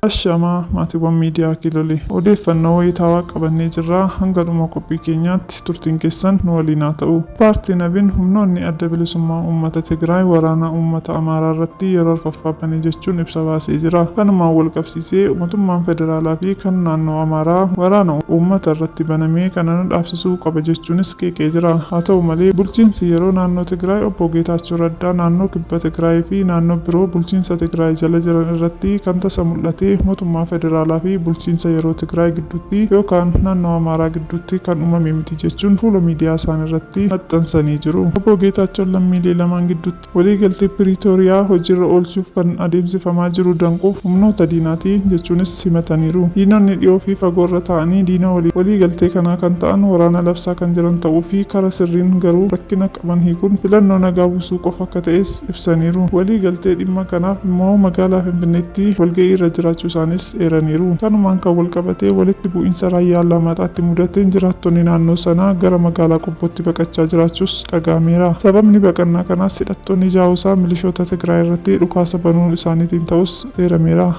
Ashamaa maatiiwwan miidiyaa Kilole. Odeeffannoo wayitaawaa qabannee jirra. Hanga dhuma qophii keenyaatti turtiin keessan nu waliin haa ta'u. Paartiin abin humnoonni Adda Bilisummaa Uummata Tigraay waraana uummata Amaaraa irratti yeroo arfaffaa bane jechuun ibsa baasee jira. Kanumaan walqabsiisee mootummaan federaalaa fi kan naannoo Amaaraa waraana uummata irratti baname kana nu dhaabsisuu taasisuu qaba jechuunis qeeqee jira. Haa ta'u malee, bulchiinsi yeroo naannoo Tigraay Obbo Geetaachoo Raddaa naannoo Kibba Tigraay fi naannoo biroo bulchiinsa Tigraay jala jiran irratti kan tasa mul'ate mootummaa federaalaa fi bulchiinsa yeroo Tigraay gidduutti yookaan naannoo Amaaraa gidduutti kan uumame miti jechuun fuula miidiyaa isaanii irratti maxxansanii jiru. Obbo Geetaachoon lammiilee lamaan gidduutti Waliigaltee Piriitooriyaa hojiirra oolchuuf kan adeemsifamaa jiru danquuf humnoota diinaati jechuunis himataniiru. Diinonni dhiyoo fi fagoo irra taa'anii diina waliigaltee kanaa kan ta'an waraana labsaa kan jiran ta'uu fi kara sirriin garuu rakkina qaban hiikuun filannoo nagaa busuu qofa akka ta'es ibsaniiru. Waliigaltee dhimma kanaaf immoo magaalaa Finfinneetti walga'ii irra jiraachuu isaaniis eeraniiru. Kanumaan kan walqabatee walitti bu'iinsa Raayyaa Allaamaaxaatti mudateen jiraattonni naannoo sanaa gara magaalaa Qobbootti baqachaa jiraachuus dhaga'ameera. Sababni baqannaa kanaas hidhattoonni Jaawusaa milishoota Tigraay irratti dhukaasa banuu isaaniitiin ta'uus eerameera.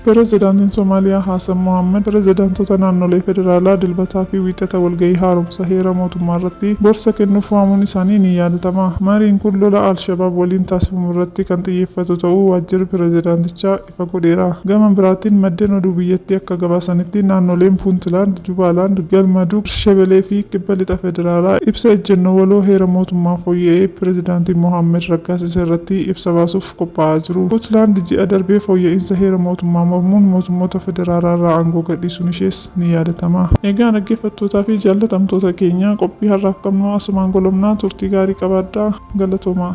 Pirezidaantiin Somaaliyaa Haasan Mohaammad pirezidaantota naannolee federaalaa Dilbataa fi Wiixata walga'ii haaromsa heera mootummaa irratti gorsa kennuuf waamuun isaanii ni yaadatama. Mariin kun lola al-Shabaab waliin taasifamu irratti kan xiyyeeffatu ta'uu waajjirri pirezidaantichaa ifa godheera. Gama biraatiin maddeen oduu biyyattii akka gabaasanitti naannoleen Puuntilaand, Jubaalaand, Galmadug, Shebelee fi Kibba Lixa Federaalaa ibsa ejjennoo waloo heera mootummaa fooyya'ee pirezidaantiin Mohaammad raggaasise irratti ibsa baasuuf qophaa'aa jiru. Puutlaand ji'a darbe fooyya'iinsa heera mootummaa mormuun mootummoota federaalaa irraa aangoo gadhiisuun ishees ni yaadatama. Egaa dhaggeeffattootaa fi jaallatamtoota keenya qophii har'aaf qabnu asumaan golobna. Turtii gaarii qabaadhaa. Galatoomaa.